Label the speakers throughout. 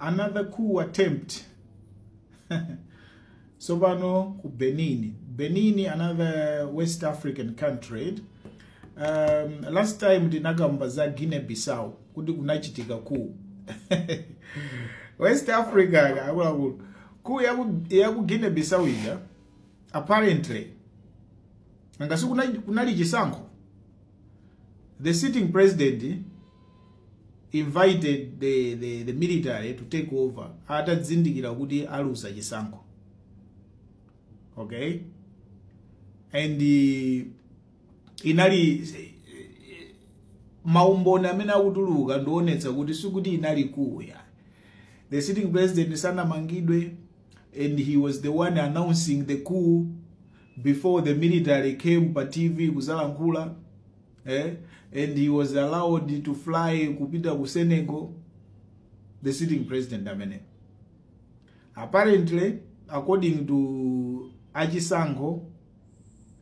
Speaker 1: another coup attempt sopano ku benin benin another west african country um, last time ndinakamba za guinea bissau kuti kunachitika coup west africa akuluakulu coup ya ku guinea bissau ija apparently ngasi kunali chisankho the sitting president invited the, the, the military to take over atadzindikira kuti aluza chisankho okay and uh, inali maumboni amene akutuluka ndi oonetsa kuti sikuti inali coup ya the sitting president sanamangidwe and he was the one announcing the coup before the military came pa tv kuzalankhula eh? and he was allowed to fly kupita ku Senegal the sitting president ameneyu apparently according to achisankho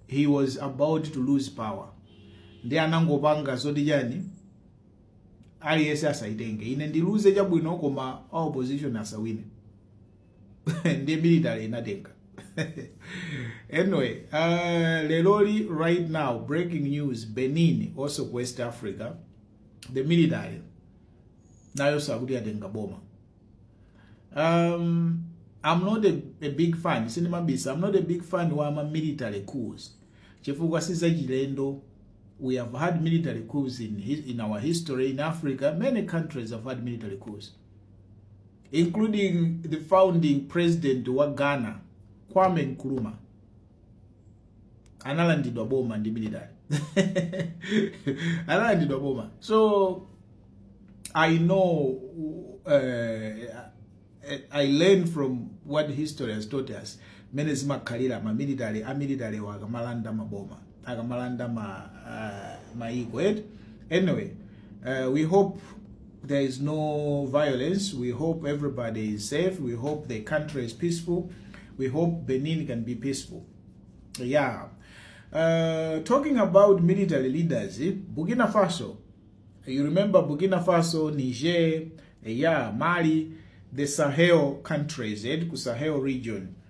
Speaker 1: he was about to lose power nde anangopanga zoti chani aliyense asayitenge ine ndiluze chabwino koma a opposition asawine ndi military inatenga anyway uh, leloli right now breaking news benin also ku west africa the military nayo sakuti yatenga boma um, i'm not a, a big fan sindimabisa i'm not a big fan wa ma military coups chifukwa sizachilendo we have had military coups in, in our history in africa many countries have had military coups including the founding president wa Ghana Kwame Nkrumah analandidwa boma ndi military analandidwa boma so I know uh, I learn from what history has taught us mene zimakhalira ma military a military wo akamalanda maboma akamalanda ma uh, maiko eti anyway uh, we hope there is no violence we hope everybody is safe we hope the country is peaceful we hope benin can be peaceful yeah uh, talking about military leaders eh, burkina faso you remember burkina faso niger eh, yeah mali the sahel countries eh, ku sahel region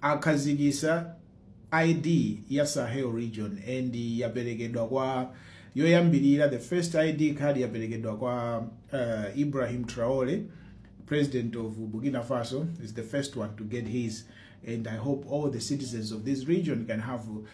Speaker 1: akhazikisa ID ya Sahel region and yapelekedwa kwa yoyambilira the first ID card yapelekedwa kwa uh, Ibrahim Traore president of Burkina Faso is the first one to get his and I hope all the citizens of this region can have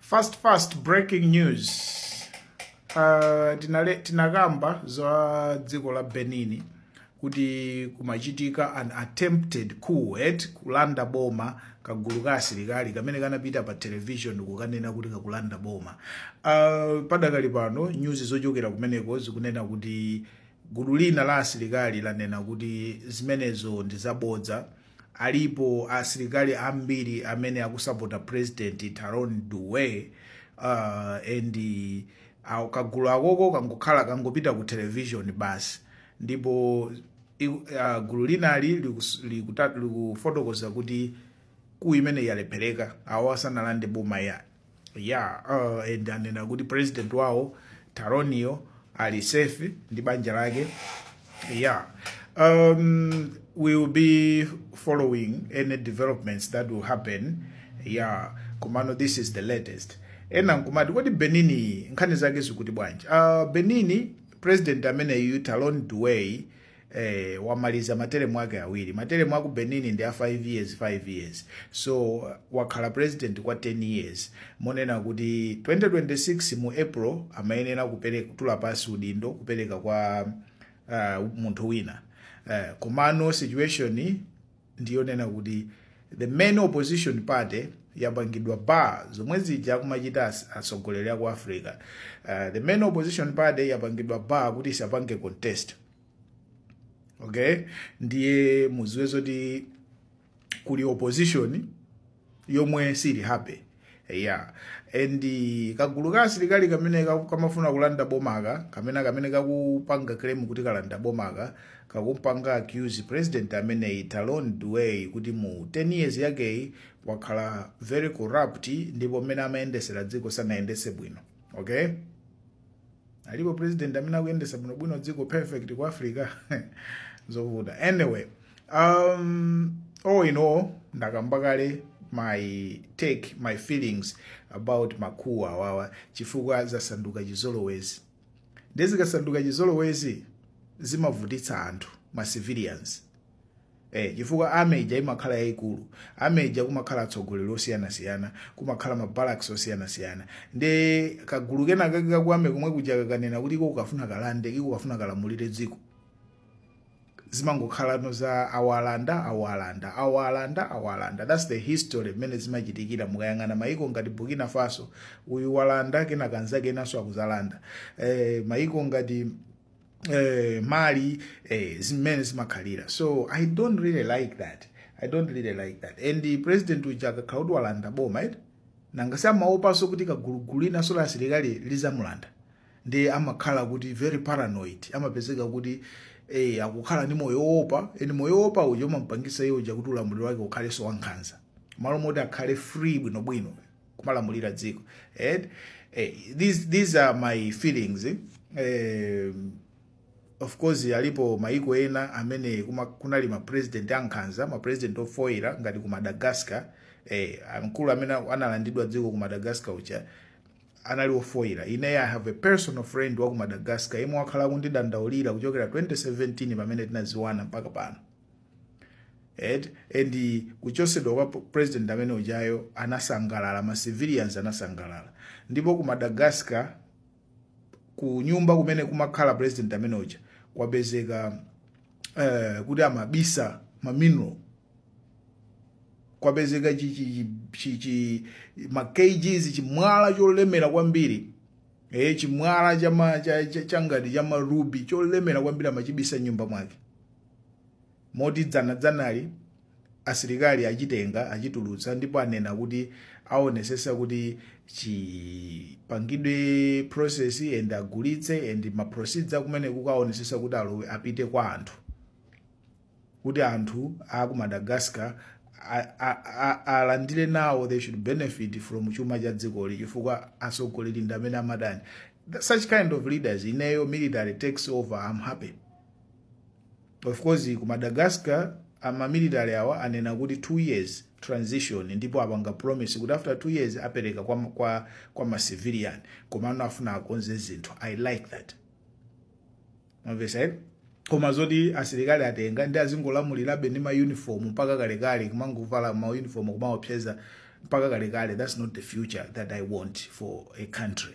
Speaker 1: fast fast breaking news uh, tinale, tinakamba za dziko la benin kuti kumachitika an attempted coup yoti kulanda boma kagulu ka asilikali kamene kanapita pa television kukanena kuti kalanda boma uh, padakali pano nyuzi zochokera kumeneko zikunena kuti gulu lina la asilikali lanena kuti zimenezo ndi zabodza Alipo asilikali ambiri amene akusapota president Talon do we uh, and awo kagulu kakoko kangokhala kangopita ku television basi ndipo i- uh, gulu linali likus- likuta- likufotokoza kuti coup imeneyi yalephereka awo asanalande boma yani yeah uh, and anena kuti president wawo talon yo ali safe ndi banja lake yeah um, we will be following any developments that will happen yeah komano this is the latest ena nkumati kodi benin nkhani zake zikuti bwanji uh, benin president ameneyu talon duway eh, wamaliza materemu ake awiri materemu aku benin ndi a 5 years 5 years so wakhala president kwa 10 years monena kuti 2026 mu april amayenera kupereka kutula pasi udindo kupereka kwa uh, munthu wina uh, komano situation ndiyonena kuti the main opposition party yapangidwa bar zomwe zija akumachita as- atsogoleri aku africa uh, the main opposition party yapangidwa bar kuti isapange contest okay ndiye muziwe zoti kuli opposition yomwe sili happy yeah and kagulu ka asilikali kamene ka- kamafuna kulanda bomaka kamene kamene kakupanga claim kuti kalanda bomaka kakumupanga accuse president ameneyi talon uyu kuti mu 10 years yakeyi wakhala very corrupt ndipo mmene amayendesera dziko sanayendese bwino okay Alipo president amene akuyendesa bwino bwino dziko perfect ku Africa zovuta. Anyway, um all in all ndakamba kale my take my feelings about ma coup awawa chifukwa zasanduka chizolowezi. Nde zikasanduka chizolowezi zimavutitsa anthu ma civilians. Eh, chifukwa army ija imakhala yaikulu army ija kumakhala atsogoleri osiyanasiyana kumakhala ma barracks osiyanasiyana nde kagulu kena kake kaku army komwe kuja kakanena kuti iko kakufuna kalande iko kakufuna kalamulire dziko zimangokhalano za awalanda awalanda awalanda awalanda that's the history mmene zimachitikira mukayang'ana maiko ngati burkina faso uyu walanda kenaka nzake enanso akuzalanda eh, maiko ngati eh, mali eh, zimene zimakhalira so i don't really like that i don't really like that and the president uja akakhala kuti walanda boma eti nanga si amaopanso kuti gulu gulu linanso la asilikali lizamulanda nde amakhala kuti very paranoid amapezeka kuti eh, akukhala ndi moyo wowopa eh nde moyo wowopa uja umampangisa iye uja kuti ulamuliro wake ukhalenso wankhanza malo moti akhale free bwinobwino kumalamulira dziko and eh, these, these are my feelings eh, of course alipo maiko ena amene kuma, kunali mapresident ankhanza mapresident ofoira ngati ku madagascar eh, mkulu amene analandidwa dziko ku madagascar uja anali ofoira ine i have a personal friend wa ku madagascar yemwe wakhala akundidandaulira kuchokera 2017 pamene tinaziwana mpaka pano et and kuchosedwa kwa president amene ujayo anasangalala ma civilians anasangalala ndipo ku Madagascar ku nyumba kumene kumakhala president amene uja kwapezeka eh, kuti amabisa ma mineral kwapezeka chi, chi, chi, chi, ma kgs chimwala cholemera kwambiri eh, chimwala chama cha, cha, changati chama ruby cholemera kwambiri amachibisa m'nyumba mwake moti dzanadzanali asilikali achitenga achitulutsa ndipo anena kuti aonesesa kuti chipangidwe process and agulitse and ma proceeds amene kukaonesesa kuti alowe apite kwa anthu kuti anthu a ku madagascar a- a- a- alandire nawo they should benefit from chuma cha dzikoli chifukwa atsogoleri ndi amene amadani such kind of leaders ineyo military takes over i'm happy Of course ku Madagascar a ma military awa anena kuti 2 years transition ndipo apanga promise kuti after 2 years apereka kwa, kwa, kwa ma civilian komano afuna akonze zinthu i like that mwamvesa ere koma zoti asilikali atenga ndi azingolamulirabe ndi mauniform mpaka kalekale kumangovala mauniform kumaopseza mpaka kalekale that's not the future that i want for a country